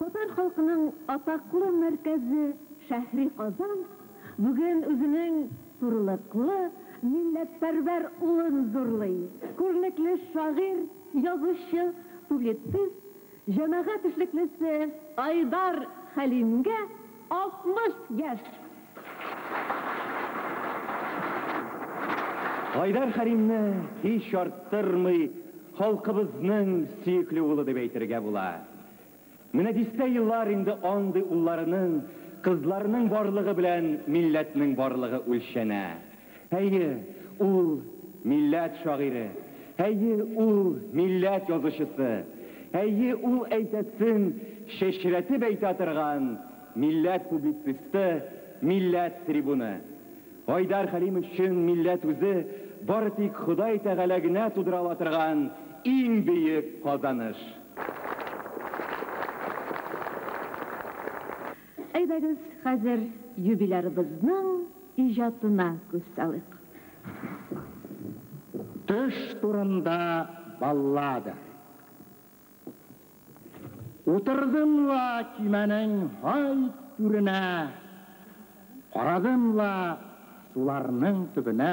Татар халкының атаклы мәркәзе шәһри Казан бүген үзенең турлыклы, милләтпәрвәр улын зурлый. Күренекле шагыйрь, язучы, публицист, җәмәгать эшлеклесе Айдар Хәлимгә 60 яшь! Айдар Хәлимне һич арттырмый халкыбызның сөекле улы дип әйтергә була. Менә дистә еллар инде андый улларының, кызларының барлыгы белән милләтнең барлыгы үлчәнә. Әйе, ул, милләт шагыйре, әйе, ул, милләт язучысы, әйе, ул, әйтәсен чәчрәтеп әйтә торган милләт публицисты, милләт трибуны. Айдар Хәлим өчен милләт үзе бары тик Ходай Тәгалә генә тудыра ала торган иң бөек казаныш. Әйдәгез, хәзер юбилярыбызның иҗатына күз салыйк. Төш турында баллада. Утырдым ла көймәнең һай түренә, Карадым ла суларның төбенә.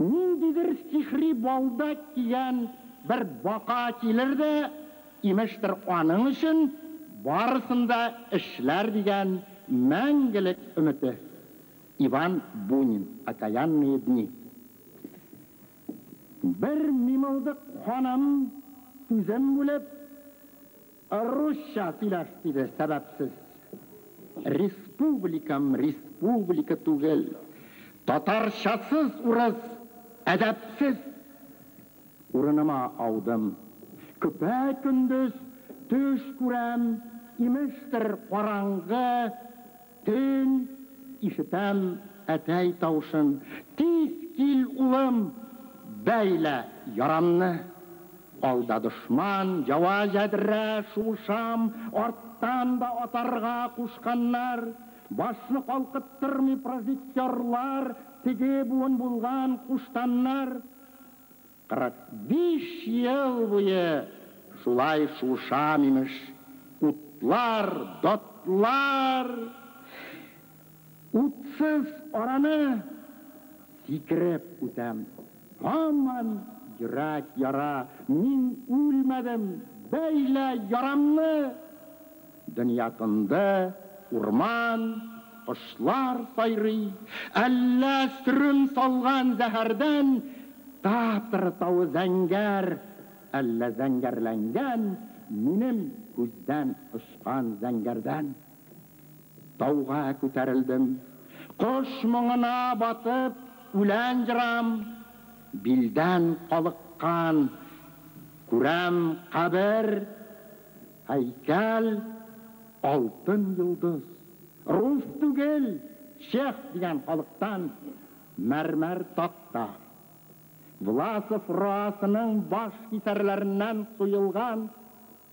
Ниндидер сихри балда дигән бер бака килер дә, имештер, аның өчен барысын да эшләр дигән мәңгелек өмете. Иван Бунин, Окаянные дни. Бер мимылдык ханым, сүзен бүлеп. Русча сөйләш, диде, сәбәпсез. Республикам республика түгел. Татарчасыз урыс, әдәпсез! Урыныма аудым. Көпә-көндез төш күрәм, имештер, караңгы. Төн, ишетәм әтәй тавышын. Тиз кил, улым, бәйлә ярамны. Алда дошман, ява ядрә шуышам, арттан да атарга кушканнар. Башны калкыттырмый прожектерлар, теге буын булган куштаннар. 45 ел буе шулай шушам, имеш, утлар, дотлар. Утсыз араны сикереп үтәм. Һаман йөрәк яра, мин үлмәдем, бәйлә ярамны! Дөнья тынды, урман, кошлар сайрый. Әллә сөрем салган зәһәрдән Татр тавы зәңгәр, әллә зәңгәрләнгән Минем күздән очкан зәңгәрдән. Тауга күтәрелдем. Кош моңына батып, үлән җырам. Билдән калыккан, күрәм, кабер, Һәйкәл, Алтын йолдыз. Рус түгел, чех дигән халыктан мәрмәр такта. Власов Роасының баш кисәрләреннән суелган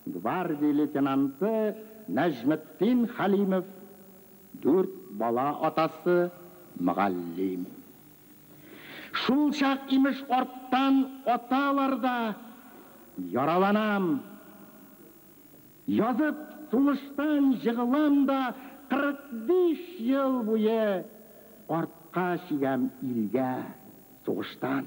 гвардия лейтенанты Нәҗметдин Хәлимов, дүрт бала атасы, мөгаллим. Шулчак, имеш, арттан аталар да яраланам. Язып, сулыштан җыгылам да 45 ел буе артка чигәм илгә сугыштан.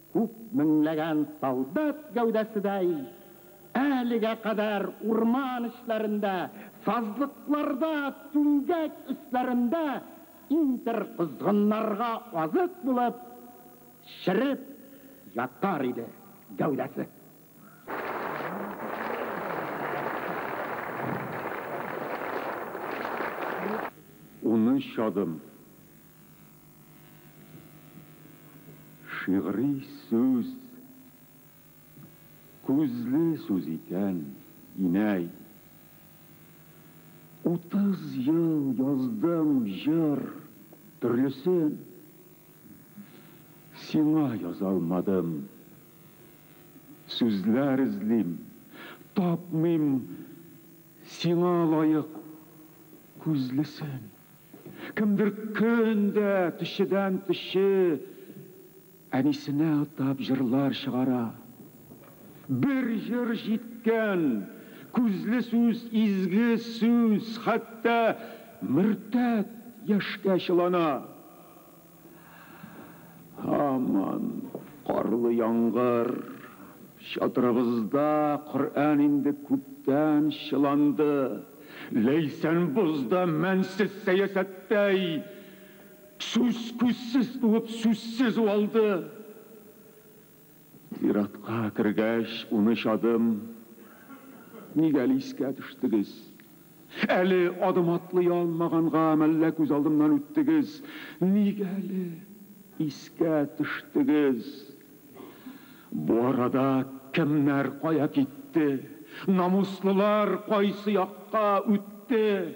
Күп меңләгән солдат гәүдәседәй, әлегә кадәр урман эчләрендә, сазлыкларда, түмгәк өсләрендә интер козгыннарга азык булып, череп ятар иде гәүдәсе. Унөч адым. Шигъри сүз күзле сүз икән, инәй. Утыз ел яздым җыр төрлесен, Сиңа яза алмадым. Сүзләр эзлим, тапмыйм Сиңа лаек күзлесен. Кемдер көн дә төчедән төче әнисенә атап җырлар чыгара. Бер җыр җиткән, күзле сүз, изге сүз, хәтта мөртәт яшькә чылана. Һаман карлы яңгыр. Чатырыбызда Коръән инде күптән чыланды. Ләйсән бозда мәнсез сәясәттәй, сүз-күзсез туып, сүзсез уалды. Зиратка кергәч, унөч адым. Ник әле искә төштегез? Әле адым атлый алмаганга мәллә күз алдымнан үттегез? Ник әле искә төштегез? Бу арада кемнәр кая китте? Намуслылар кайсы якка үтте?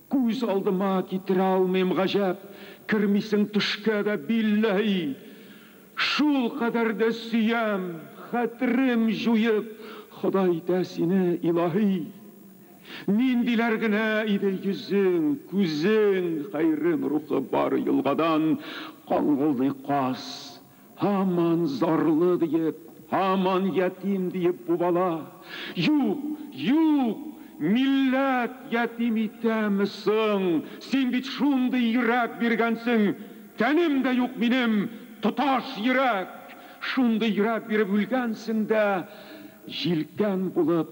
Күз алдыма китерә алмыйм, гаҗәп, кермисең төшкә дә, билләһи! Шул кадәр дә сөям, хәтерем җуеп, Ходай итә сине, илаһи! Ниндиләр генә иде йөзең, күзең, хәйрем рухы бар елгадан каңгылдый каз. Һаман зарлы диеп, һаман ятим диеп бу бала, Юк, юк, милләт ятим итәме соң, син бит шундый йөрәк биргәнсең, тәнем дә юк минем, тоташ йөрәк, шундый йөрәк биреп үлгәнсең дә, җилкән булып,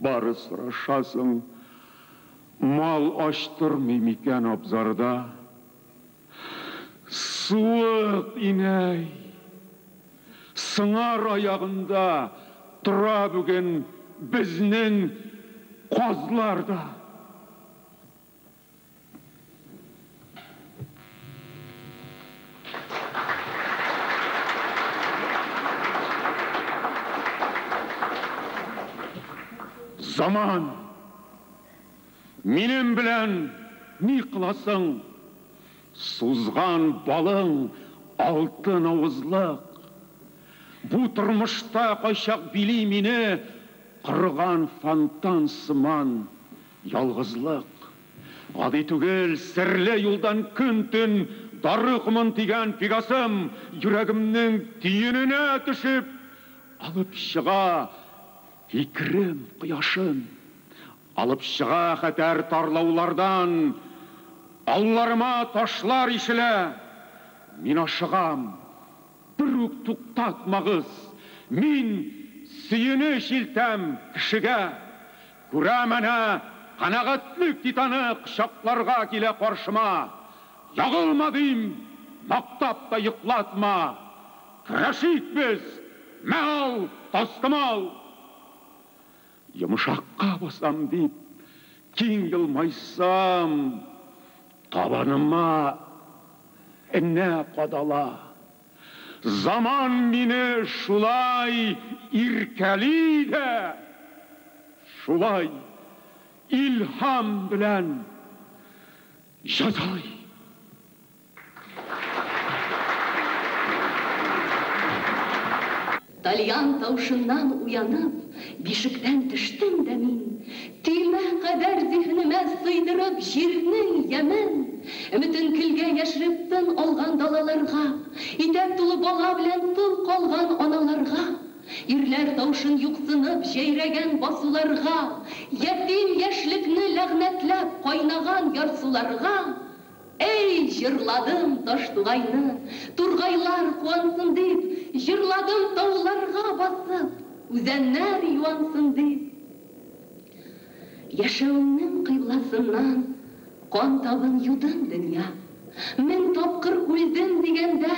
Бары сорашасың, мал ачтырмый микән абзарда? Суык, инәй! Сыңар аягында тора бүген безнең казлар да. Заман! Минем белән ни кыласың? Сузган балың алтын авызлык. Бу тормышта кайчак били мине кырган фонтан сыман. Ялгызлык, гади түгел, серле юлдан көн-төн дары комын тигән Пегасым йөрәгемнең төененә төшеп, алып чыга фикерем кояшын, алып чыга хәтәр тарлаулардан, алларыма ташлар ишелә. Мин ашыгам, бер үк туктатмагыз, мин сөенеч илтәм кешегә, Күрәм әнә, канәгатьлек титаны кочакларга килә каршыма. Ягылма, дим, мактап та йоклатма. Көрәшик без! Мә ал, тастымал! Йомшакка басам дип, киң елмайсам, табаныма энә кадала. Заман мине шулай иркәли дә, шулай илһам белән җәзалый. Тальян тавышыннан уянып, бишектән төштем дә мин, төймә кадәр зиһенемә сыйдырып җирнең ямен, өметен көлгә яшереп тын алган далаларга, итәк тулы бала белән тол калган аналарга, ирләр тавышын юксынып җәйрәгән басуларга, ятим яшьлекне ләгънәтләп кайнаган ярсуларга, Әй, җырладым Таштугайны, тургайлар куансын дип, Җырладым тауларга басып, үзәннәр юансын дип. Яшәвемнең кыйбласыннан кан табын юдым, дөнья. Мең тапкыр үлдем дигәндә,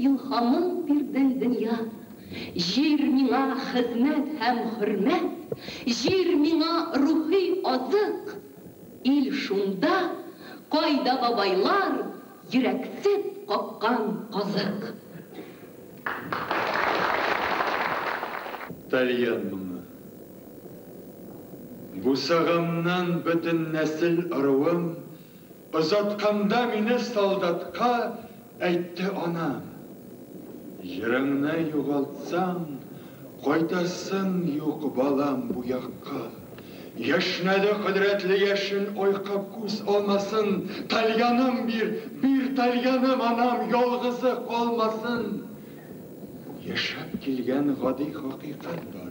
илһамың бирдең, дөнья. Җир миңа хезмәт һәм хөрмәт, җир миңа рухи азык. Ил шунда, кайда бабайлар йөрәксеп каккан казык. Тальян моңы. Бусаганнан бөтен нәсел ыруым, Озатканда мине солдатка, Әйтте анам, Җырыңны югалтсаң, кайтасың юк, балам, бу якка. Яшьнәде кодрәтле яшен айка күз алмасын, тальяным бир, бир тальяным, анам ялгызы калмасын. Яшәп килгән гади хакыйкать бар,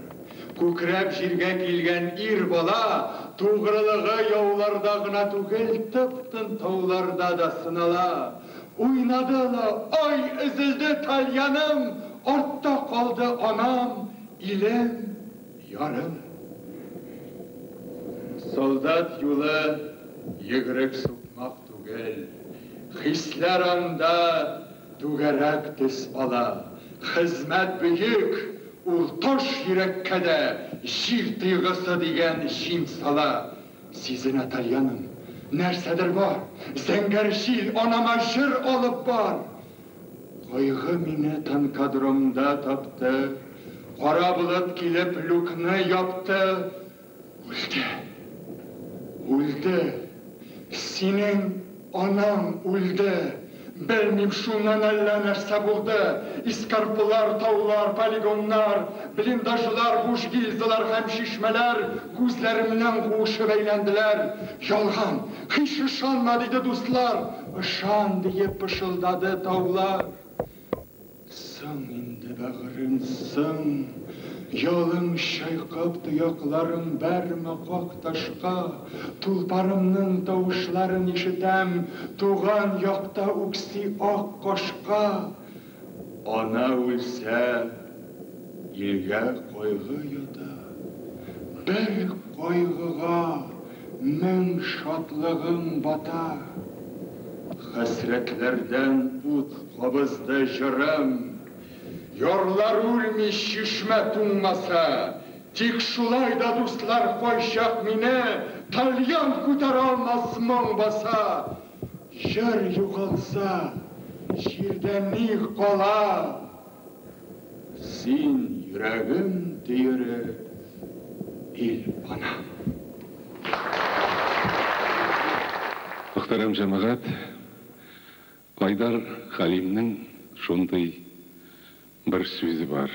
күкрәп җиргә килгән ир бала тугрылыгы яуларда гына түгел, тып-тын тауларда да сынала. Уйнады ла ай, өзелде тальяным, Артта калды анам, илем, ярым. Солдат юлы йөгерек сукмак түгел, Хисләр анда түгәрәк төс ала. Хезмәт бөек, ул таш йөрәккә дә Җир тойгысы дигән җим сала. Сизенә Тальяным, нәрсәдер бар. Зәңгәр җил, анама җыр алып бар. Кайгы мине танкодромда тапты. Кара болыт килеп люкны япты. Үлде. Үлде. Синең. Анам үлде. Белмим, шуннан әллә нәрсә булды. Эскарпылар, таулар, полигоннар, блиндажлар, буш гильзалар һәм чишмәләр күзләремнән куышып әйләнделәр. Ялган! Һич ышанма! диде дуслар. Ышан! диеп пышылдады таулар. Соң инде, бәгърем, соң! Ялың чайкап, тоякларың бәрмә как ташка! Тулпарымның тавышларын ишетәм, Туган якта үкси ак кашка. Ана үлсә, илгә кайгы ята, Бер кайгыга. Мең шатлыгым бата. Хәсрәтләрдән ут кабызды җырым. Ярлар үлми, чишмә туңмаса. Тик шулай да дуслар кайчак мине Тальян күтәрә алмас моң баса. Җыр югалса, җирдә ни кала? Син, йөрәгем төере, ил панам. Мөхтәрәм җәмәгать, Айдар Хәлимнең шундый бер сүзе бар,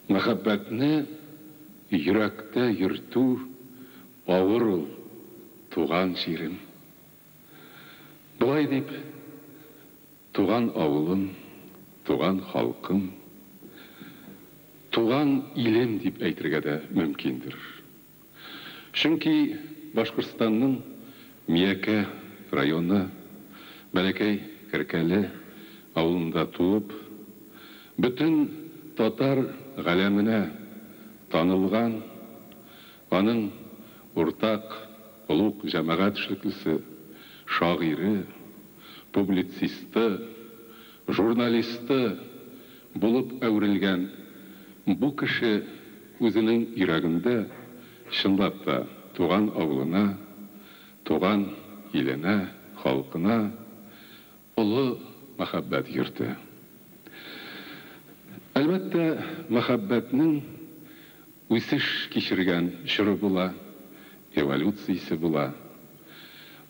Мәхәббәтне йөрәктә йөртү авыр ул, туган җирем. Болай дип, Туган авылым, туган халкым, туган илем дип әйтергә дә мөмкиндер. Чөнки Башкортстанның Миякә районы Бәләкәй Керкәле авылында туып, бөтен татар галәменә танылган Аның уртак олуг җәмәгать эшлеклесе, шагыйре, публицисты, журналисты булып әверелгән бу кеше үзенең йөрәгендә, чынлап та, туган авылына, туган иленә, халкына Олы мәхәббәт йорты. Әлбәттә, мәхәббәтнең үсеш кичергән чоры була, эволюциясе була.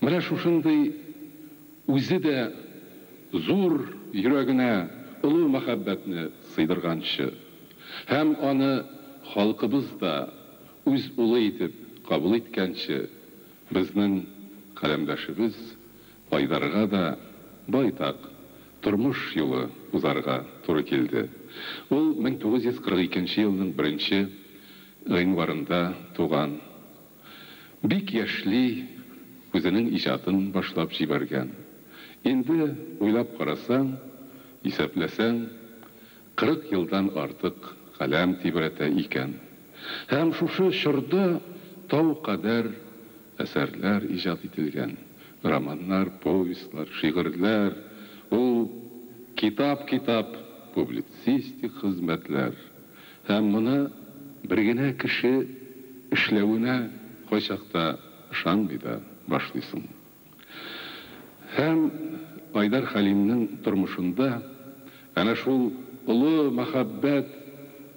Менә шушындый үзе дә зур йөрәгенә олы мәхәббәтне сыйдырганчы һәм аны халкыбыз да үз улы итеп кабул иткәнче, безнең каләмдәшебез Айдарга да байтак тормыш юлы узарга туры килде. Ул 1942 нче елның беренче гыйнварында туган. Бик яшьли үзенең иҗатын башлап җибәргән. Инде, уйлап карасаң, исәпләсәң, 40 елдан артык каләм тибрәтә икән. Һәм шушы чорда тау кадәр әсәрләр иҗат ителгән, романнар, повестьлар, шигырьләр, ул китап-китап публицистик хезмәтләр, һәм моны бер генә кеше эшләвенә кайчакта ышанмый да башлыйсың. Һәм Айдар Хәлимнең тормышында Әнә шул олы мәхәббәт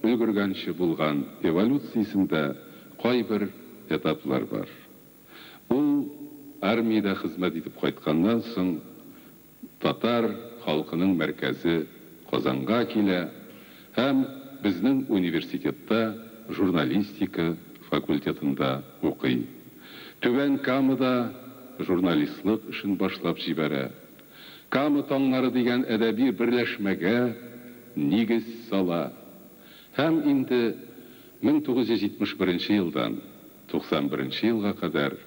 өлгергәнче булган эволюциясендә кайбер этаплар бар. Ул армиядә хезмәт итеп кайтканнан соң татар халкының мәркәзе Казанга килә һәм безнең университетта журналистика факультетында укый. Түбән Камада журналистлык эшен башлап җибәрә. Кама таңнары дигән әдәби берләшмәгә нигез сала һәм инде 1971 елдан 91 елга кадәр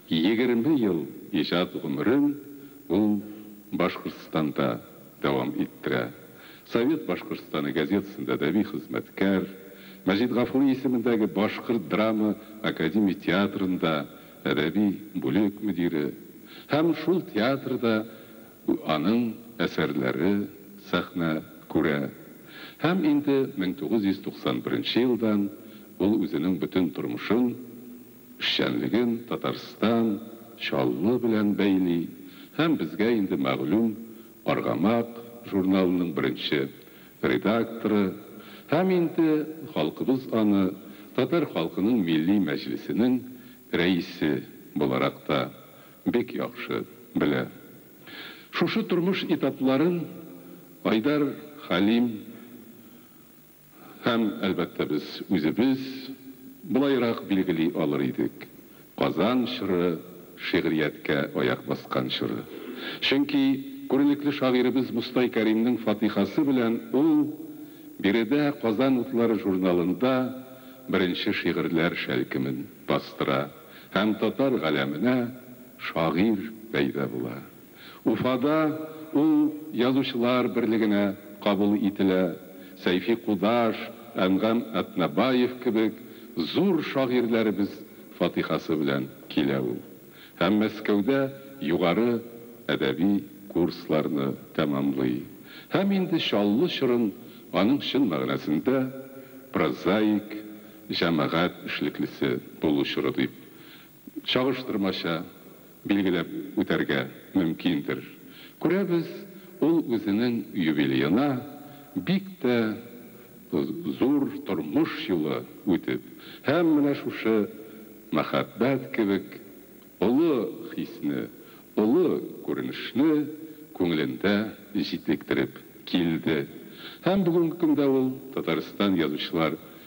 егерме ел иҗат гомерен ул Башкортстанда дәвам иттерә. Совет Башкортстаны газетасында әдәби хезмәткәр, Мәҗит Гафури исемендәге Башкорт драма академия театрында әдәби бүлек мөдире һәм шул театрда аның әсәрләре сәхнә күрә һәм инде 1991 елдан ул үзенең бөтен тормышын, эшчәнлеген Татарстан, Чаллы белән бәйли һәм безгә инде мәгълүм Аргамак журналының беренче редакторы һәм инде халкыбыз аны татар халкының Милли Мәҗлесенең рәисе буларак та бик яхшы белә. Шушы тормыш этапларын Айдар Хәлим Һәм, әлбәттә, без үзебез болайрак билгели алыр идек, Казан чоры шигърияткә аяк баскан чоры. Чөнки күренекле шагыйребез Мостай Кәримнең фатыйхасы белән ул биредә Казан утлары журналында беренче шигырьләр шәлкемен бастыра һәм татар галәменә шагыйрь пәйда була. Уфада ул Язучылар берлегенә кабул ителә, Сәйфи Кудаш, Әнгам Әтнәбаев кебек зур шагыйрьләребез фатихасы белән килә ул һәм Мәскәүдә югары әдәби курсларны тәмамлый һәм инде Чаллы чорын аның чын мәгънәсендә прозаик җәмәгать эшлеклесе булу чоры дип чагыштырмача билгеләп үтәргә мөмкиндер. Күрәбез, ул үзенең юбилеена бик тә зур тормыш юлы үтеп һәм менә шушы мәхәббәт кебек олы хисне, олы күренешне күңелендә җитлектереп килде. Һәм бүгенге көндә ул Татарстан Язучылар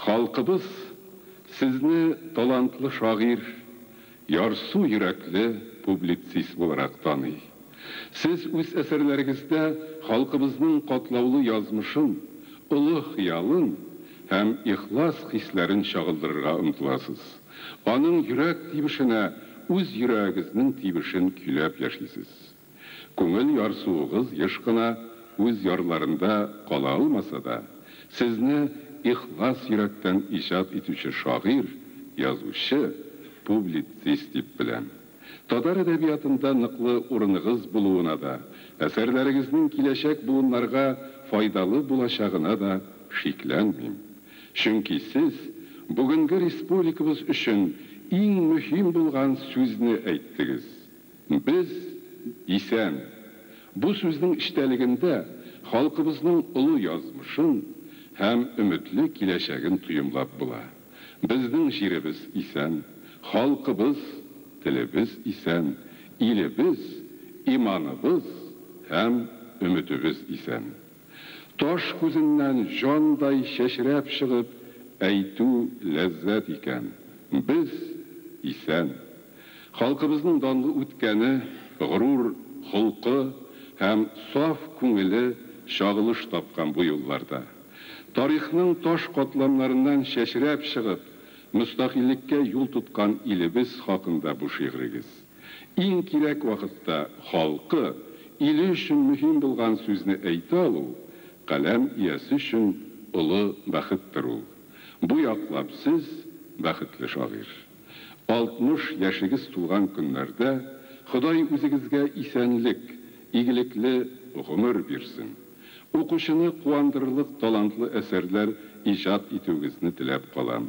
Халкыбыз Сезне талантлы шагыйрь, ярсу йөрәкле публицист буларак таный. Сез үз әсәрләрегездә халкыбызның катлаулы язмышын, олы хыялын һәм ихлас хисләрен чагылдырырга омтыласыз. Аның йөрәк тибешенә үз йөрәгегезнең тибешен көйләп яшисез. Күңел ярсуыгыз еш кына үз ярларында кала алмаса да, сезне ихлас йөрәктән иҗат итүче шагыйрь, язучы, публицист дип беләм. Татар әдәбиятында ныклы урыныгыз булуына да, әсәрләрегезнең киләчәк буыннарга файдалы булачагына да шикләнмим. Чөнки сез бүгенге республикабыз өчен иң мөһим булган сүзне әйттегез. Без, дисәм, бу сүзнең эчтәлегендә халкыбызның олы язмышын һәм өметле киләчәген тоемлап була. Безнең җиребез исән, халкыбыз, телебез исән, илебез, иманыбыз һәм өметебез исән. Таш күзеннән җандай чәчрәп чыгып әйтү ләззәт икән. Без, исән. Халкыбызның данлы үткәне, горур холкы һәм саф күңеле чагылыш тапкан бу юлларда. Тарихның таш катламнарыннан чәчрәп чыгып, мөстәкыйльлеккә юл тоткан илебез хакында бу шигърегез. Иң кирәк вакытта халкы, иле өчен мөһим булган сүзне әйтә алу, каләм иясе өчен олы бәхеттер ул. Бу яклап сез, бәхетле шагыйрь! 60 яшегез тулган көннәрдә Ходай үзегезгә исәнлек, игелекле гомер бирсен! Укучыны куандырырлык талантлы әсәрләр иҗат итүегезне теләп калам.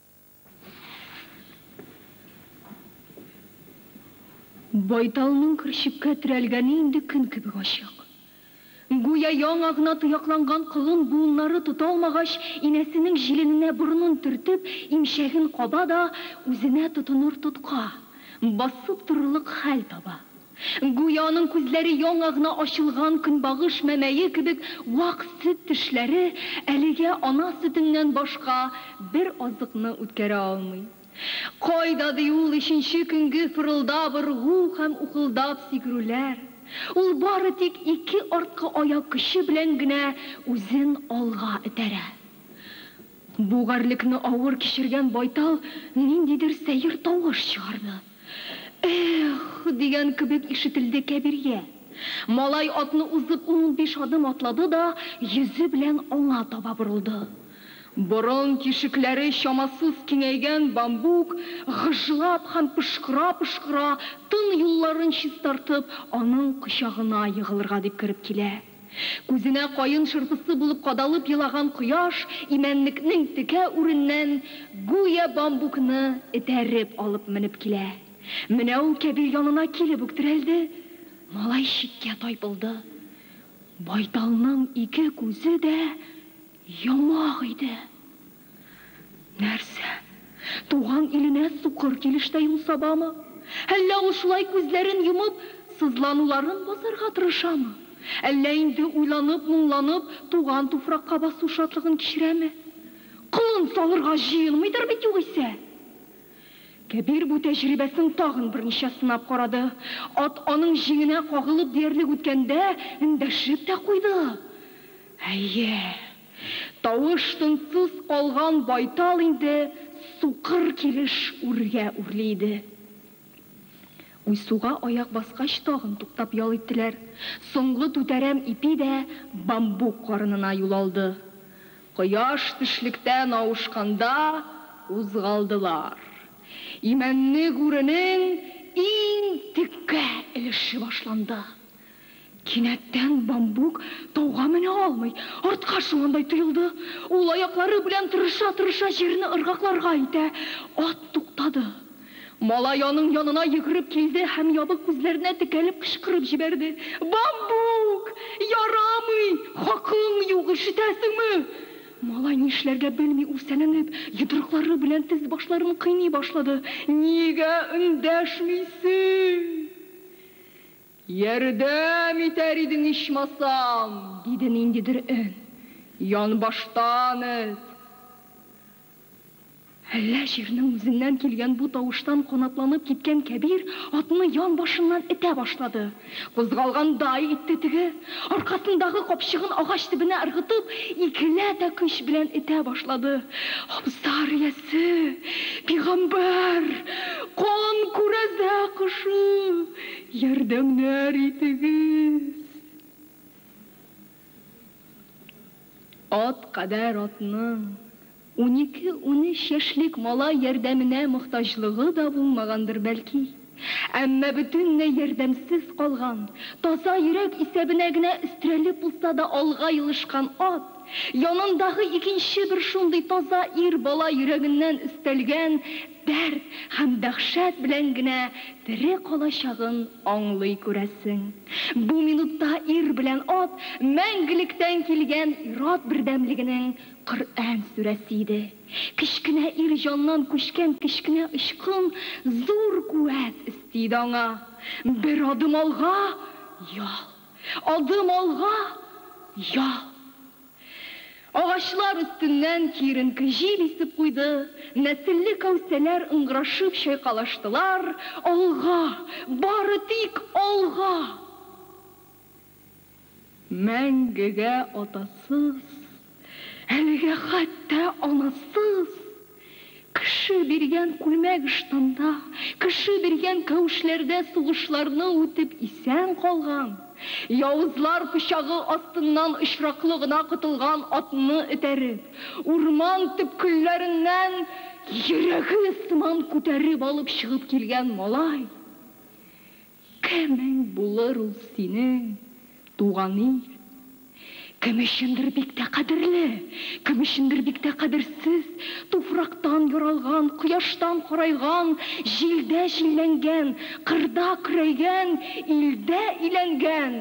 Байталның көрчеккә терәлгәне инде көн кебек ачык. Гүя яңа гына тоякланган колын буыннары тота алмагач, инәсенең җилененә борынын төртеп, имчәген каба да үзенә тотыныр тотка, басып торырлык хәл таба. Гүя аның күзләре яңа гына ачылган көнбагыш мәмәе кебек вак сөт тешләре әлегә ана сөтеннән башка бер азыкны үткәрә алмый. Кайда ди ул өченче көнге фырылдап ыргу һәм ухылдап сикерүләр? Ул бары тик ике арткы аяк көче белән генә үзен алга этәрә. Бу гарьлекне авыр кичергән байтал ниндидер сәер тавыш чыгарды. Эх! дигән кебек ишетелде Кәбиргә. Малай атны узып ун-унбиш адым атлады да йөзе белән аңа таба борылды. Борын тишекләре чамасыз киңәйгән Бамбук, гыжлап һәм пошкыра-пошкыра, тын юлларын чистартып, аның кочагына егылырга дип кереп килә. Күзенә каен шырпысы булып кадалып елаган кояш имәнлекнең текә үреннән гүя бамбукны этәреп алып менеп килә. Менә ул Кәбир янына килеп үк терәлде. Малай читкә тайпылды. Байталның ике күзе дә йомык иде. Нәрсә, туган иленә сукыр килеш тә юл сабамы? Әллә ул шулай күзләрен йомып, сызлануларын басарга тырышамы? Әллә инде уйланып-моңланып, туган туфракка басу шатлыгын кичерәме? Колын салырга җыенмыйдыр бит югыйсә! Кәбир бу тәҗрибәсен тагын берничә сынап карады. Ат аның җиңенә кагылып диярлек үткәндә, эндәшеп тә куйды. Әйе. Тавыш-тынсыз калган байтал инде сукыр килеш үргә үрли иде. Уйсуга аяк баскач тагын туктап ял иттеләр. Соңгы түтәрәм ипи дә бамбук карынына юл алды. Кояш төшлектән авышканда кузгалдылар. Имәнне гүренең иң текә өлеше башланды. Кинәттән Бамбук тауга менә алмый, артка шугандай тоелды. Ул аяклары белән тырыша-тырыша җирне ыргакларга итә. Ат туктады. Малай аның янына йөгереп килде һәм ябык күзләренә текәлеп кычкырып җибәрде, Бамбук! Ярамый! Хакың юк, ишетәсеңме? Малай нишләргә белми үрсәләнеп, йодрыклары белән тез-башларын кыйный башлады, Нигә эндәшмисең? Ярдәм итәр идең ичмасам! диде ниндидер өн. Янбаштан эт. Әллә җирнең үзеннән килгән бу тавыштан канатланып киткән Кәбир атны ян башыннан этә башлады. Кузгалгандай итте теге, аркасындагы капчыгын агач төбенә ыргытып, икеләтә көч белән этә башлады. Абзар иясе! Пигамбәр! Кан күрәзә кошы! Ярдәмнәр итегез! Ат кадәр атның унике-унөч яшьлек малай ярдәменә мохтаҗлыгы да булмагандыр, бәлки. Әмма бөтенләй ярдәмсез калган, таза йөрәк исәбенә генә өстерәлеп булса да алга елышкан ат, янындагы икенче бер шундый таза ир бала йөрәгеннән өстәлгән Дәрт һәм дәһшәт белән генә тере калачагын аңлый күрәсең. Бу минутта ир белән ат мәңгелектән килгән ир-ат бердәмлегенең Коръән сүрәсе иде. Кечкенә ир җаннан күчкән кечкенә очкын зур куәт өсти иде аңа. Бер адым алга, ял! Адым алга, ял! Агачлар өстеннән киеренке җил исеп куйды, нәселле кәүсәләр ыңгырашып чайкалыштылар, Алга, бары тик алга! Мәңгегә атасыз, әлегә хәтта анасыз! Кеше биргән күлмәк-ыштанда, кеше биргән кәүшләрдә сугышларны үтеп исән калган, явызлар пычагы астыннан очраклы гына котылган атны этәреп, урман төпкелләреннән йөрәге сыман күтәреп алып чыгып килгән малай, Кемең булыр ул синең туган ил? Кем өчендер бик тә кадерле, кем өчендер бик тә кадерсез, туфрактан яралган, кояштан карайган, җилдә җилләнгән, кырда көрәйгән, илдә иләнгән,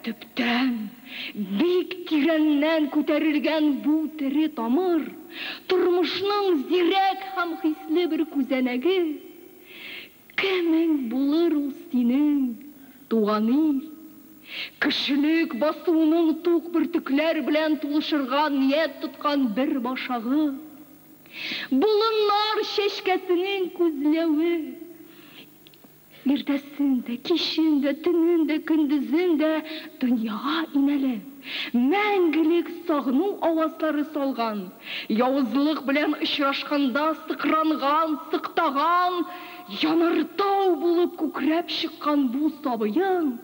төптән, бик тирәннән күтәрелгән бу тере тамыр, тормышның зирәк һәм хисле бер күзәнәге. Кемең булыр ул синең туган ил? Кешелек басуының тук бөртекләр белән тулышырга ният тоткан бер башагы. Болыннар чәчкәсенең күзләве. Иртәсен дә, кичен дә, төнен дә, көндезен дә дөньяга инәле. Мәңгелек сагыну авазлары салган, явызлык белән очрашканда сыкранган, сыктаган, янартау булып күкрәп чыккан бу сабыең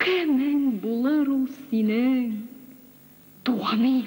кемең булыр ул синең, туган ил?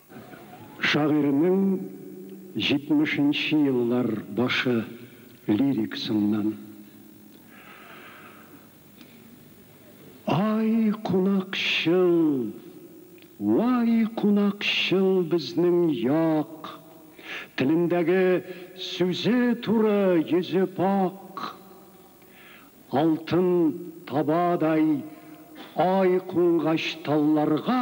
Шагыйрьнең җитмешенче еллар башы лирикасыннан. Ай, кунакчыл, вай, кунакчыл безнең як, Телендәге сүзе туры, йөзе пакъ. Алтын табадай ай кунгач талларга.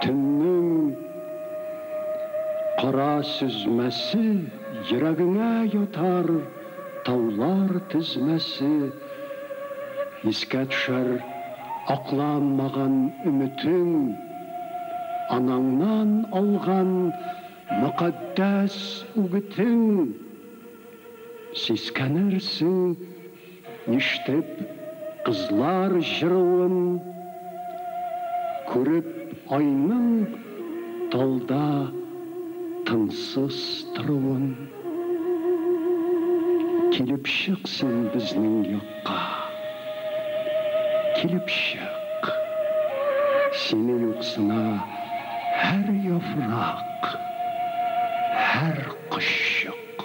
Төннең кара сөзмәсе Йөрәгеңә ятар таулар тезмәсе. Искә төшәр акланмаган өметең, Анаңнан алган мөкатдәс үгетең. Сискәнерсең. Ништеп кызлар җыруын күреп айның талда тынсыз торуын Килеп чык син безнең якка Килеп чык Сине юксына һәр яфрак, һәр кошчык.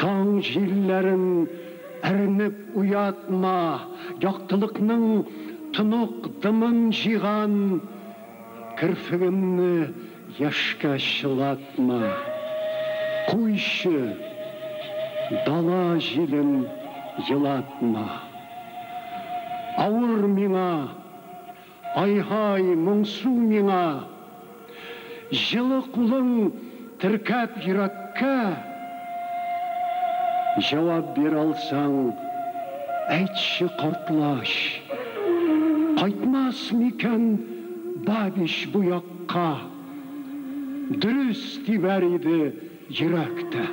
Таң җилләрен әрнеп уятма, Яктылыкның тонык дымын җыйган керфегемне яшькә чылатма. Куйчы, дала җилен елатма. Авыр миңа. Ай-һай, моңсу миңа! Җылы кулың теркәп йөрәккә. Җавап бир алсаң, әйтче, картлач. Кайтмас микән Бабич бу якка? Дөрес тибәр иде йөрәк тә.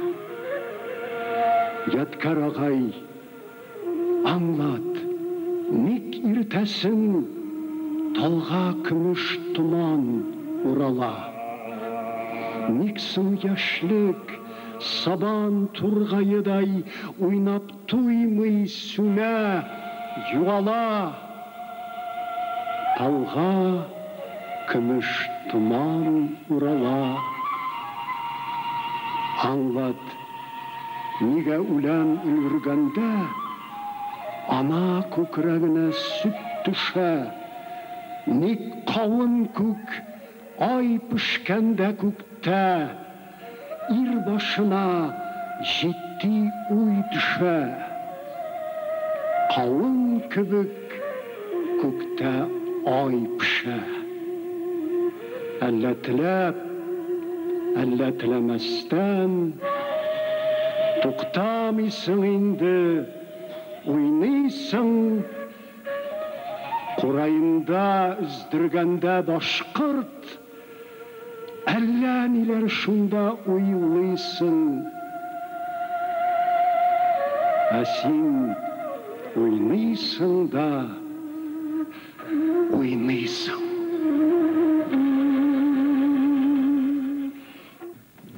Ядкәр агай! Аңлат, ник иртәсен талга көмеш томан урала? Ник соң яшьлек сабан тургаедай уйнап туймый, сүнә, югала? Талга көмеш томан урала. Аңлат. Нигә үлән өлгергәндә ана күкрәгенә сөт төшә? Ник кавын күк ай пешкәндә күктә ир башына җитди уй төшә? Кавын кебек күктә ай пешә. Әллә теләп, әллә теләмәстән, Туктамыйсың инде, уйныйсың. Кураенда өздергәндә башкорт, Әллә ниләр шунда уйлыйсың. Ә син уйныйсың да. уйныйсың.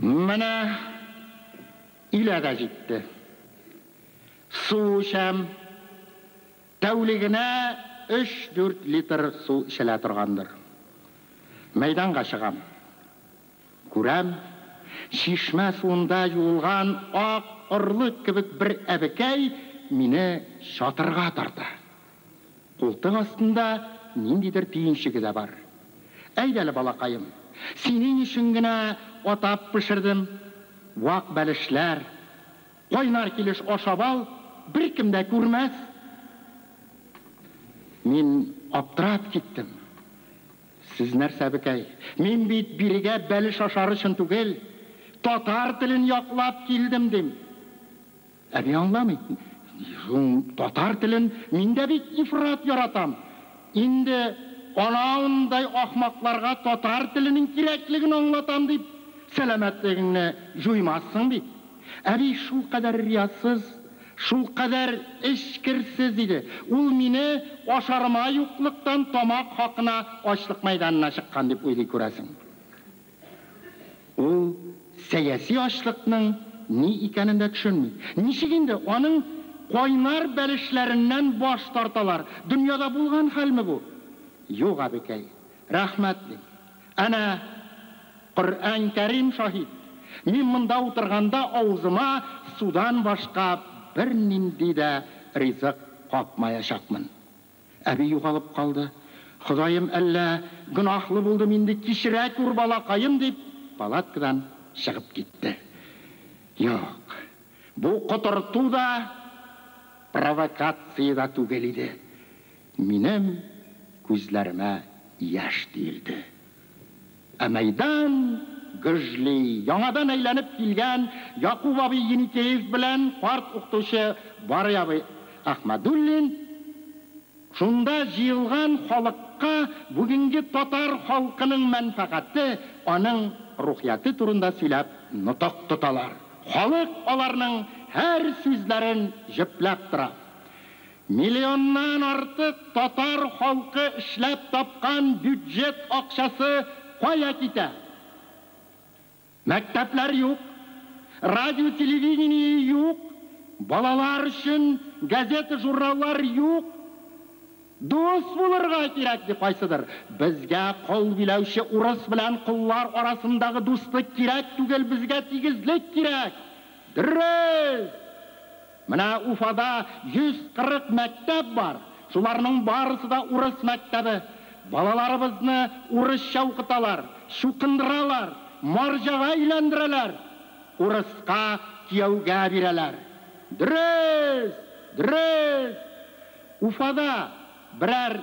Менә илә дә җитте. Су эчәм. Тәүлегенә өч-дүрт литр су эчелә торгандыр. Мәйданга чыгам. Күрәм, чишмә суында юылган ак орлык кебек бер әбекәй мине чатырга тарта. Култык астында ниндидер төенчеге дә бар. Әйдә әле, балакаем, синең өчен генә атап пешердем, вак бәлешләр, кайнар килеш ашап ал, беркем дә күрмәс. Мин аптырап киттем. Сез нәрсә, әбекәй, мин бит бирегә бәлеш ашар өчен түгел, татар телен яклап килдем, дим. Әби аңламый. Шуң татар телен мин дә бит ифрат яратам. Инде анауындай ахмакларга татар теленең кирәклеген аңлатам дип, сәламәтлегеңне җуймассың бит. Әби шулкадәр риясыз, шулкадәр эчкерсез иде. Ул мине ашарыма юклыктан тамак хакына ачлык мәйданына чыккан дип уйлый, күрәсең. Ул сәяси ачлыкның ни икәнен дә төшенми. Ничек инде аның кайнар бәлешләреннән баш тарталар? Дөньяда булган хәлме бу? Юк, абекәй, рәхмәт, дим. Әнә, Коръән Кәрим шаһит, мин монда утырганда авызыма судан башка бернинди дә ризык капмаячакмын. Әби югалып калды. Ходаем, әллә гөнаһлы булдым инде, кичерә күр, балакаем, дип, палаткадан чыгып китте. Юк, бу котырту да, провокация дә түгел иде. Минем күзләремә яшь тиелде. Ә мәйдан гөжли. Яңадан әйләнеп килгән Якуб абый Еникеев белән карт укытучы Барый абый Әхмәдуллин шунда җыелган халыкка бүгенге татар халкының мәнфәгате, аның рухияте турында сөйләп нотык тоталар. Халык аларның һәр сүзләрен җөпләп тора. Миллионнан артык татар халкы эшләп тапкан бюджет акчасы кая китә? Мәктәпләр юк, радио-телевидение юк, балалар өчен газета-журналлар юк. Дус булырга кирәк, ди кайсыдыр. Безгә кол биләүче урыс белән коллар арасындагы дуслык кирәк түгел, безгә тигезлек кирәк. Дөрес! Менә Уфада 140 мәктәп бар, шуларның барысы да урыс мәктәбе. Балаларыбызны урысча укыталар, чукындыралар, марҗага өйләндерәләр, урыска кияүгә бирәләр. Дөрес! Дөрес! Уфада берәр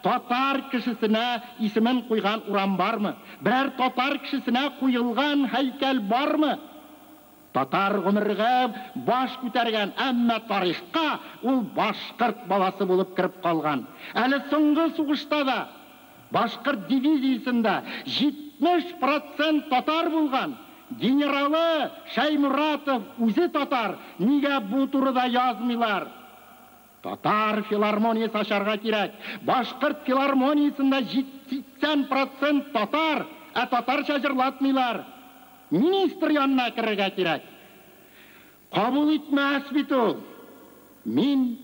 татар кешесенә исемен куйган урам бармы? Берәр татар кешесенә куелган һәйкәл бармы? Татар гомергә баш күтәргән, әмма тарихка ул башкорт баласы булып кереп калган. Әле соңгы сугышта да башкорт дивизиясендә 70 процент татар булган. Генералы Шәйморатов үзе татар, нигә бу турыда язмыйлар? Татар филармониясе ачарга кирәк. Башкорт филармониясендә җит, сиксән процент татар, ә татарча җырлатмыйлар. Министр янына керергә кирәк. Кабул итмәс бит ул. Мин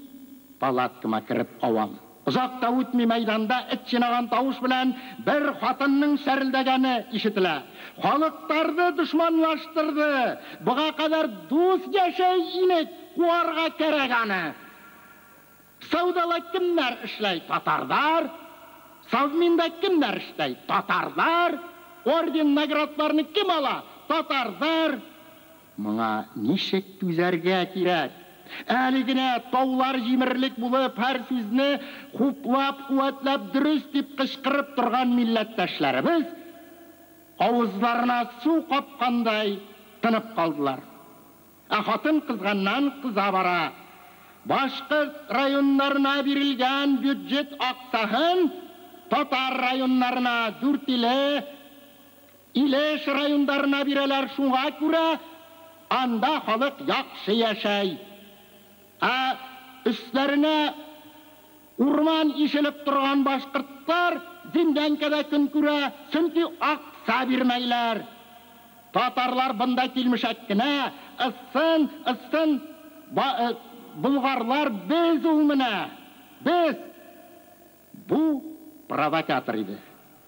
палаткама кереп авам. Озак та үтми мәйданда эт чинаган тавыш белән бер хатынның чәрелдәгәне ишетелә. Халык тарды, дошманлаштырды. Быга кадәр дус яшәй инек. Куарга кәрәк аны. Саудала кемнәр эшләй? Татарлар. Совминда кемнәр эшләй? Татарлар. Орден, наградларны кем ала? Татарлар. Моңа ничек түзәргә кирәк? Әле генә таулар җимерлек булып, һәр сүзне хуплап-куәтләп, дөрес дип кычкырып торган милләттәшләребез авызларына су капкандай тынып калдылар. Ә хатын кызганнан кыза бара. Башкорт районнарына бирелгән бюджет акцаһын татар районнарына, Дүртиле, Илеш райондарына бирәләр, шуңа күрә анда халык яхшы яшәй. Ә өсләренә Урман ишелеп торган башкортлар землянкада көн күрә, чөнки акча бирмәйләр. Татарлар бында килмешәк кенә, ыссын, ыссын, ба, э, болгарлар без ул менә, без! Бу провокатор иде.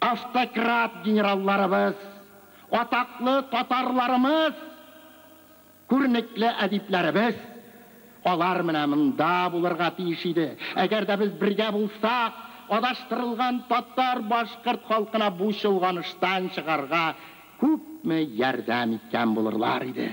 Автократ генералларыбыз, атаклы татарларымыз, күренекле әдипләребез, алар менә монда булырга тиеш иде. Әгәр дә без бергә булсак, адаштырылган татар, башкорт халкына бу чолганыштан чыгарга күпме ярдәм иткән булырлар иде.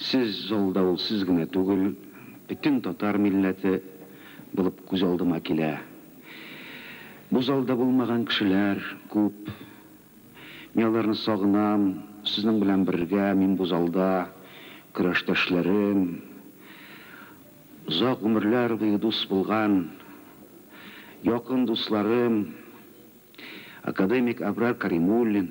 Сез залда ул сез генә түгел, бөтен татар милләте булып күз алдыма килә. Бу залда булмаган кешеләр күп. Мин аларны сагынам, сезнең белән бергә мин бу залда, көрәштәшләрем, озак гомерләр буе дус булган якын дусларым, академик Абрар Каримуллин.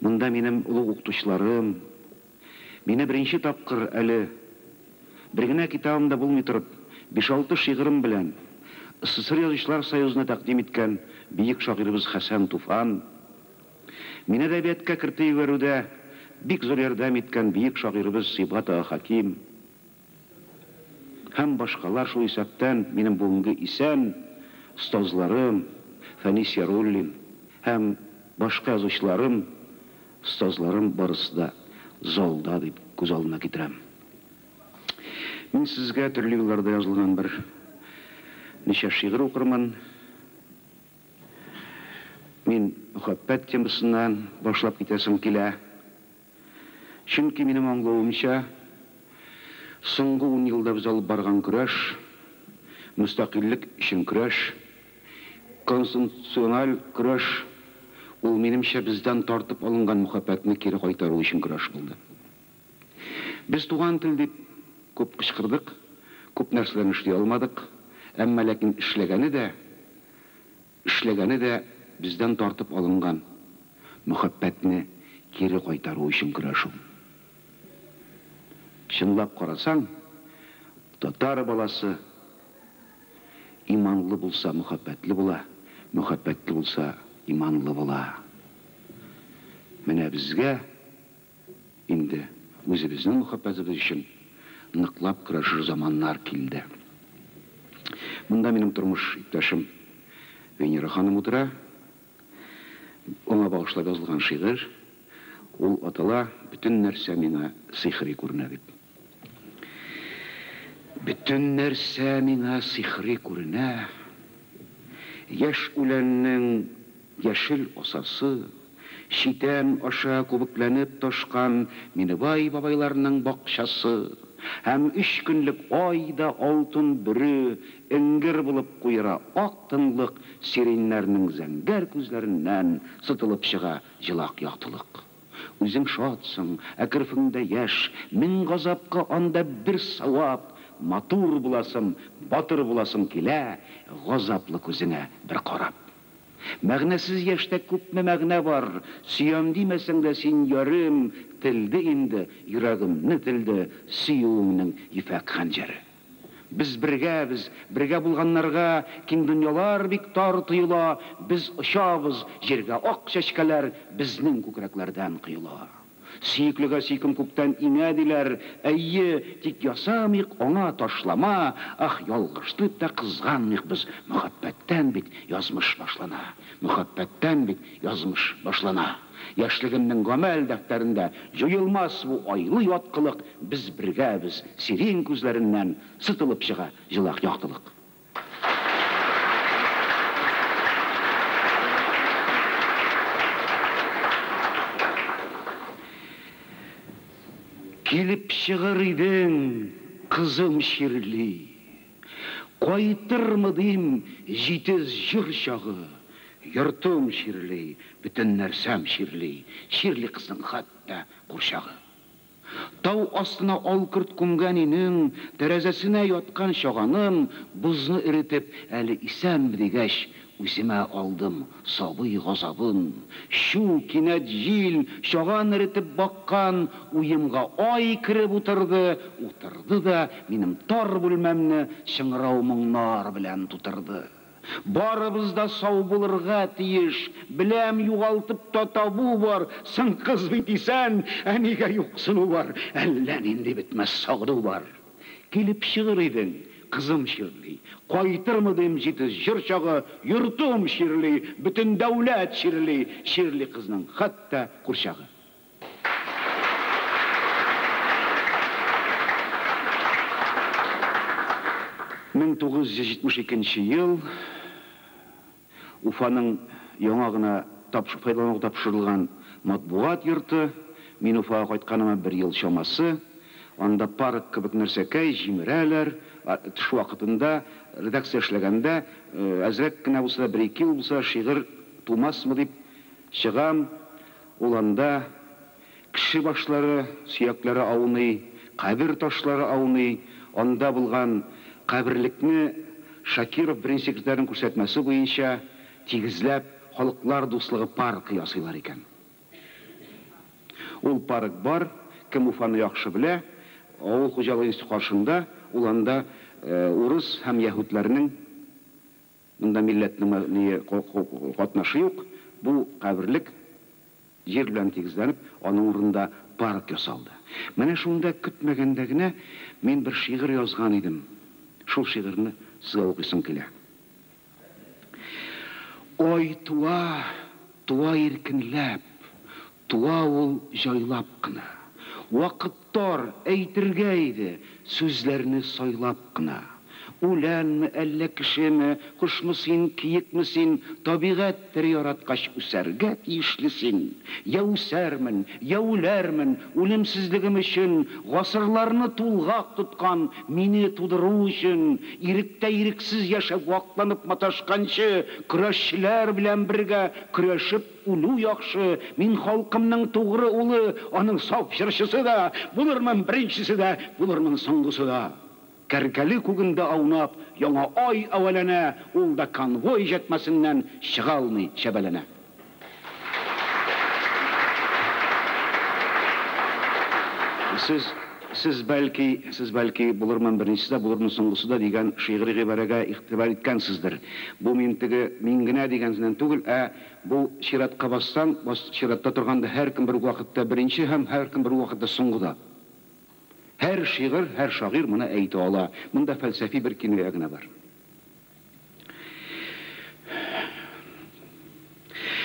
Монда минем олуг укытучыларым, мине беренче тапкыр әле, бер генә китабым да булмый торып, биш-алты шигырем белән СССР Язучылар союзына тәкъдим иткән бөек шагыйребез Хәсән Туфан, мине әдәбияткә кертеп җибәрүдә бик зур ярдәм иткән бөек шагыйребез Сибгат ага Хәким, Һәм башкалар, шул исәптән минем бүгенге исән остазларым Фәнис Яруллин һәм башка язучыларым, остазларым барысы да залда дип күз алдына китерәм. Мин сезгә төрле елларда язылган бер ничә шигырь укырмын. Мин мөхәббәт темасыннан башлап китәсем килә. Чөнки, минем аңлавымча, соңгы ун елда без алып барган көрәш, мөстәкыйльлек өчен көрәш, конституциональ көрәш, ул, минемчә, бездән тартып алынган мөхәббәтне кире кайтару өчен көрәш булды. Без туган тел дип күп кычкырдык, күп нәрсәләрне эшли алмадык, әмма ләкин эшләгәне дә Эшләгәне дә бездән тартып алынган мөхәббәтне кире кайтару өчен көрәшү. Чынлап карасаң, татар баласы иманлы булса, мөхәббәтле була, мөхәббәтле булса, иманлы була. Менә безгә Инде үзебезнең мөхәббәтебез өчен ныклап көрәшер заманнар килде. Монда минем тормыш иптәшем Венера ханым утыра. Аңа багышлап язылган шигырь. Ул атала, Бөтен нәрсә миңа сыйхри күренә, дип. Бөтен нәрсә миңа сихри күренә. Яшь үләннең яшел асасы, читән аша күбекләнеп ташкан Минебай бабайларның бакчасы һәм өч көнлек ай да алтын бөре эңгер булып куера ак тынлык сиреньнәрнең зәңгәр күзләреннән сытылып чыга җылак яктылык. Үзең шатсың, ә керфеңдә яшь, Мең газапка анда бер савап, Матур буласың, батыр буласың килә, Газаплы күзеңә бер карап. Мәгънәсез яшьтә күпме мәгънә бар, Сөям димәсәң дә син, ярым, Телде инде, йөрәгемне телде Сөюеңнең ефәк хәнҗәре. Без бергәбез, бергә булганнарга Киң дөньялар бик тар тоела, Без очабыз, җиргә ак чәчкәләр Безнең күкрәкләрдән коела. Сөеклегә сөйкем күктән иңә, диләр, Әйе, тик ясамыйк аңа ташлама, Ах, ялгыш дип тә кызганмыйк без, Мөхәббәттән бит язмыш башлана, Мөхәббәттән бит язмыш башлана. Яшьлегемнең гамәл дәфтәрендә Җуелмас бу айлы яткылык, Без бергәбез, сирень күзләреннән Сытылып чыга җылак яктылык. Килеп чыгыр идең, кызым чирли. Кайтырмы дим, җитез җыр чагы. Йортым чирли, бөтен нәрсәм чирли, Чирли кызның хәтта курчагы. Тау астына алкорт күмгән өйнең Тәрәзәсенә яткан чаганым Бозны эретеп, әле исәнме дигәч, Үземә алдым сабый газабын. Чү, кинәт җил, чаган эретеп баккан уемга ай кереп утырды, утырды да минем тар бүлмәмне чыңырау моңнар белән тутырды. Барыбыз да сау булырга тиеш, беләм, югалтып та табу бар, соң кызый дисән, ә нигә юксыну бар, әллә нинди бетмәс сагыну бар. Килеп чыгыр идең, кызым чирли, Кайтырмы дим җитез җыр чагы, Йортым чирли, бөтен дәүләт чирли, Чирли кызның хәтта курчагы. Мең тугыз йөз җитмеш икенче ел. Уфаның яңа гына файдалануга тапшырылган матбугат йорты, мин Уфага кайтканыма бер ел чамасы, анда парк кебек нәрсәкәй, җимерәләр, тыш вакытында, редакциядә эшләгәндә, әзрәк кенә булса да, бер-ике ел булса да шигырь тумасмы дип чыгам, ул анда. Кеше башлары, сөякләре ауный, кабер ташлары ауный, анда булган каберлекне Шакиров беренче секретарьның күрсәтмәсе буенча тигезләп Халыклар дуслыгы паркы ясыйлар икән. Ул парк бар, кем Уфаны яхшы белә, авыл хуҗалыгы институты каршында, ул анда урыс һәм яһүдләрнең Монда милләтнең мәдәние катнашы юк, бу каберлек җир белән тигезләнеп, аның урынында парк ясалды. Менә шунда көтмәгәндә генә мин бер шигырь язган идем. Шул шигырьне сезгә укыйсым килә. Ай туа, туа иркенләп, Туа ул җайлап кына. Вакыт тар, әйтергә иде, Сүзләрне сайлап кына. Үләнме, әллә кешеме, Кошмы син, киекме син, Табигать тере яраткач, Үсәргә тиешле син. Йә үсәрмен, йә үләрмен, Үлемсезлегем өчен, Гасырларны тулгак тоткан, Мине тудыру өчен. Иректә ирексез яшәп, Вакланып маташканчы, Көрәшчеләр белән бергә Көрәшеп Үлү яхшы, мин халкымның тугры улы, аның саф җырчысы да булырмын, беренчесе дә булырмын, соңгысы да. Кәркәле күгендә аунап, яңа ай әвәләнә, ул да конвой җәтмәсеннән чыга алмый чәбәләнә. Сез, сез бәлки, сез бәлки булырмын, беренчесе дә булырмын, соңгысы да дигән шигъри гыйбарәгә игътибар иткәнсездер. Бу мин теге мин генә дигәнсеннән түгел, ә Бу чиратка бассаң, бас, чиратта торганда һәркем бер үк вакытта беренче һәм һәркем бер үк вакытта соңгы да. Һәр шигырь, һәр шагыйрь моны әйтә ала. Монда фәлсәфи бер киная генә бар.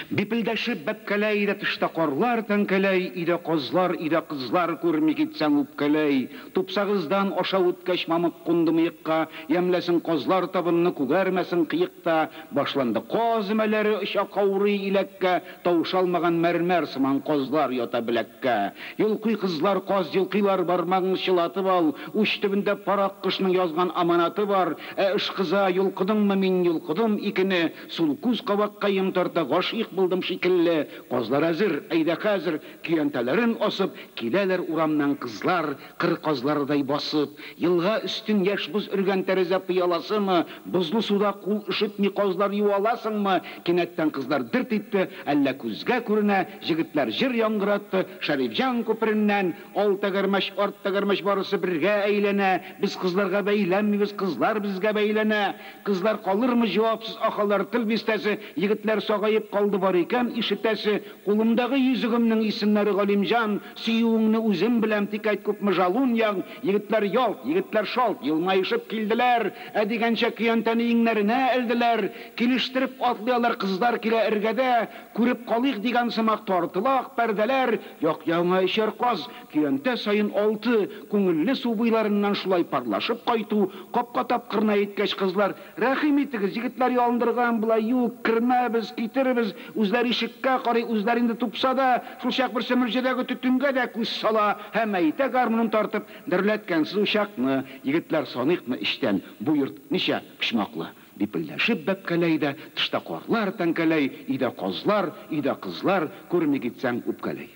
Бипелдәшеп бәпкәләй дә тышта карлар тәңкәләй, өйдә казлар, өйдә кызлар күрми китсәң үпкәләй. Тупсагыздан аша үткәч мамык кунды мыекка, ямьләсен казлар табынны, күгәрмәсен кыек та. Башланды. Каз өмәләре оча каурый иләккә, Тавыш алмаган мәрмәр сыман казлар ята беләккә. Йолкый кызлар, каз йолкыйлар, бармагың чылатып ал, Уч төбендә парак кошның язган аманаты бар. Ә ышкыза, йолкыдыңмы, мин йолкыдым икене, Сул күз кабакка йон тарта, гашыйк булдым шикелле. Казлар әзер, әйдә хәзер, көянтәләрен асып, Киләләр урамнан кызлар, Кыр казларыдай басып, елга өстен яшь боз өргән тәрәзә пыяласымы, бозлы суда кул өшетми казлар юа аласыңмы? Кинәттән кызлар дерт итте, әллә күзгә күренә, җегетләр җыр яңгыратты, Шәрифҗан күпереннән, Ал тәгәрмәч, арт тәгәрмәч барысы бергә әйләнә, без кызларга бәйләнмибез, кызлар безгә бәйләнә. Кызлар калырмы җавапсыз ахалар тел бистәсе, егетләр сагаеп калды бар икән, ишетәсе, кулымдагы йөзегемнең исемнәре Галимҗан, Сөюеңне үзем беләм, тик әйт күпме жалун ягң Егетләр ялт, егетләр шалт елмаешып килделәр Ә дигәнчә көянтәне иңнәренә элделәр Килештереп атлый алар кыздар килә эргәдә Күреп калыйк дигән сымак тартыла ак пәрдәләр Як-ягыңа өчәр каз, көянтә саен алты Күңелле су буйларыннан шулай парлашып кайту Капка тапкырына йиткәч кызлар Рәхим итегез, егетләр ялындырган була, юк, кермәбез, китербез, үзләре ишеккә карый, үзләре инде тупса да, шулчак берсе мөрҗәдәге төтенгә дә күз сала һәм әйтә, гармунын тартып, Дөрләткәнсез учакны, егетләр, саныйкмы эчтән, бу йорт ничә почмаклы? Бипелдәшеп бәпкәләй дә, тышта карлар тәңкәләй, өйдә казлар, өйдә кызлар, күрми китсәң, үпкәләй.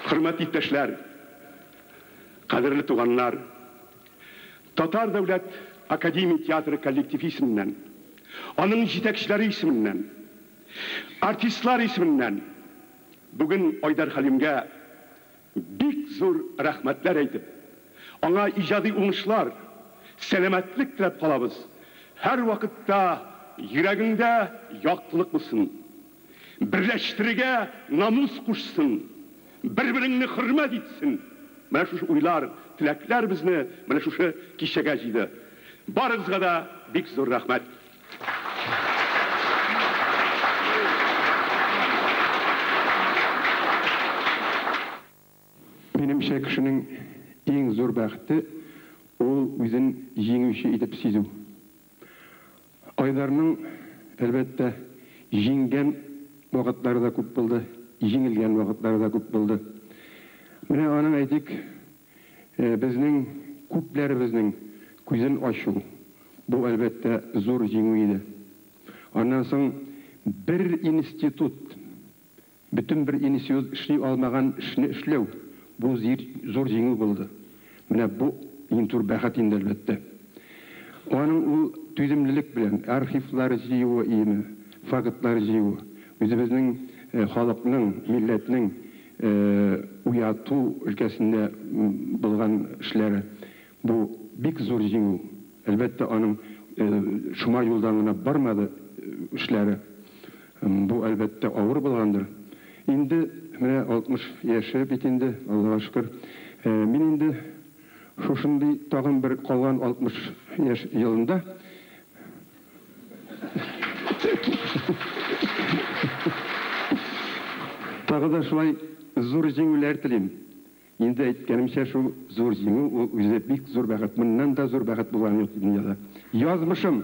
Хөрмәтле иптәшләр, кадерле туганнар! Татар дәүләт академия театры коллективы исеменнән, аның җитәкчеләре исеменнән, артистлар исеменнән бүген Айдар Хәлимгә Бик зур рәхмәтләр әйтеп, аңа иҗади уңышлар, сәламәтлек теләп калабыз. Һәрвакытта йөрәгеңдә яктылык булсын. Берләштерергә намус кушсын. Бер-береңне хөрмәт итсен. Менә шушы уйлар, теләкләр безне менә шушы кичәгә җыйды. Барыгызга да бик зур рәхмәт. Минемчә, кешенең иң зур бәхете, ул үзен җиңүче итеп сизү. Айдарның, әлбәттә, җиңгән вакытлары да күп булды, җиңелгән вакытлары да күп булды. Менә аның, әйтик, Безнең, күпләребезнең күзен ачу, бу, әлбәттә, зур җиңү иде. Аннан соң бер институт, бөтен бер институт эшли алмаган эшне эшләү, бу зир, зур җиңү булды. Менә бу иң зур бәхет инде, әлбәттә. Аның ул түземлелек белән архивлар җыюы иеме, фактлар җыюы, үзебезнең халыкның, милләтнең, уяту өлкәсендә булган эшләре, бу бик зур җиңү. Әлбәттә, аның шома юлдан гына бармады эшләре. Бу, әлбәттә, авыр булгандыр. Инде менә 60 яше бит инде, Аллага шөкер. Мин инде шушындый тагын бер калган 60 яшь елында, Тагы да шулай зур җиңүләр телим. Инде әйткәнемчә, шул зур җиңү ул үзе бик зур бәхет. Моннан да зур бәхет булганы юк дөньяда. Язмышым!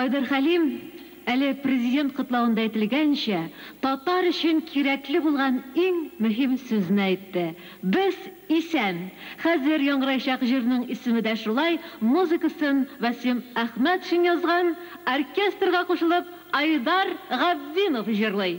Айдар Хәлим, Әле Президент котлавында әйтелгәнчә, татар өчен кирәкле булган иң мөһим сүзне әйтте, Без исән! Хәзер яңгыраячак җырның исеме дә шулай, музыкасын Вәсим Әхмәтшин язган, оркестрга кушылып Айдар Габдинов җырлый.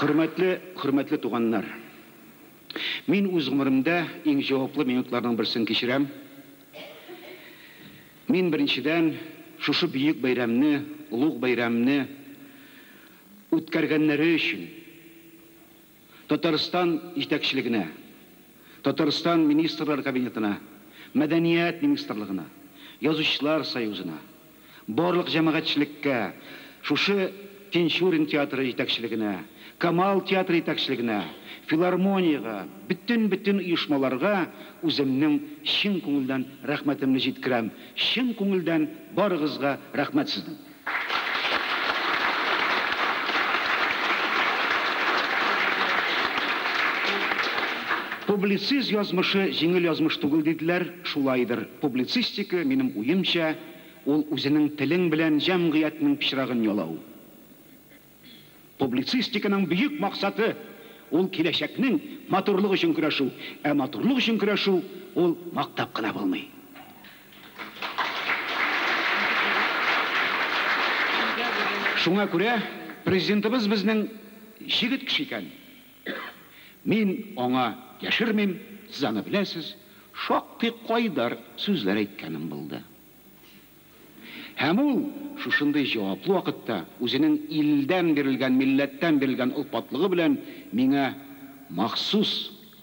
Хөрмәтле, хөрмәтле туганнар! Мин үз гомеремдә иң җаваплы минутларның берсен кичерәм. Мин, беренчедән, шушы бөек бәйрәмне, олуг бәйрәмне үткәргәннәре өчен Татарстан җитәкчелегенә, Татарстан Министрлар Кабинетына, Мәдәният министрлыгына, Язучылар союзына, барлык җәмәгатьчелеккә шушы Тинчурин театры җитәкчелегенә, Камал театры җитәкчелегенә, филармониягә, бөтен-бөтен оешмаларга үземнең чын күңелдән рәхмәтемне җиткерәм, чын күңелдән барыгызга рәхмәт сезнең. Публициз язмышы җиңел язмыш түгел диделәр, шулайдыр, публицистика, минем уемча, Ул үзенең телең белән җәмгыятьнең пычрагын ялау. Публицистиканың бөек максаты, ул киләчәкнең матурлыгы өчен көрәшү, ә матурлык өчен көрәшү, ул мактап кына булмый. Шуңа күрә Президентыбыз безнең җегет кеше икән. Мин аңа яшермим, сез аны беләсез, шактый кайдар сүзләр әйткәнем булды. Һәм ул, шушындый җаваплы вакытта, үзенең илдән бирелгән, милләттән бирелгән олпатлыгы белән миңа махсус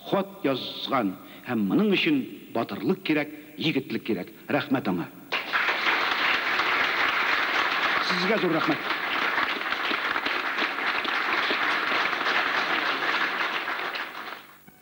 хат язган һәм моның өчен батырлык кирәк, егетлек кирәк. Рәхмәт аңа. Сезгә зур рәхмәт.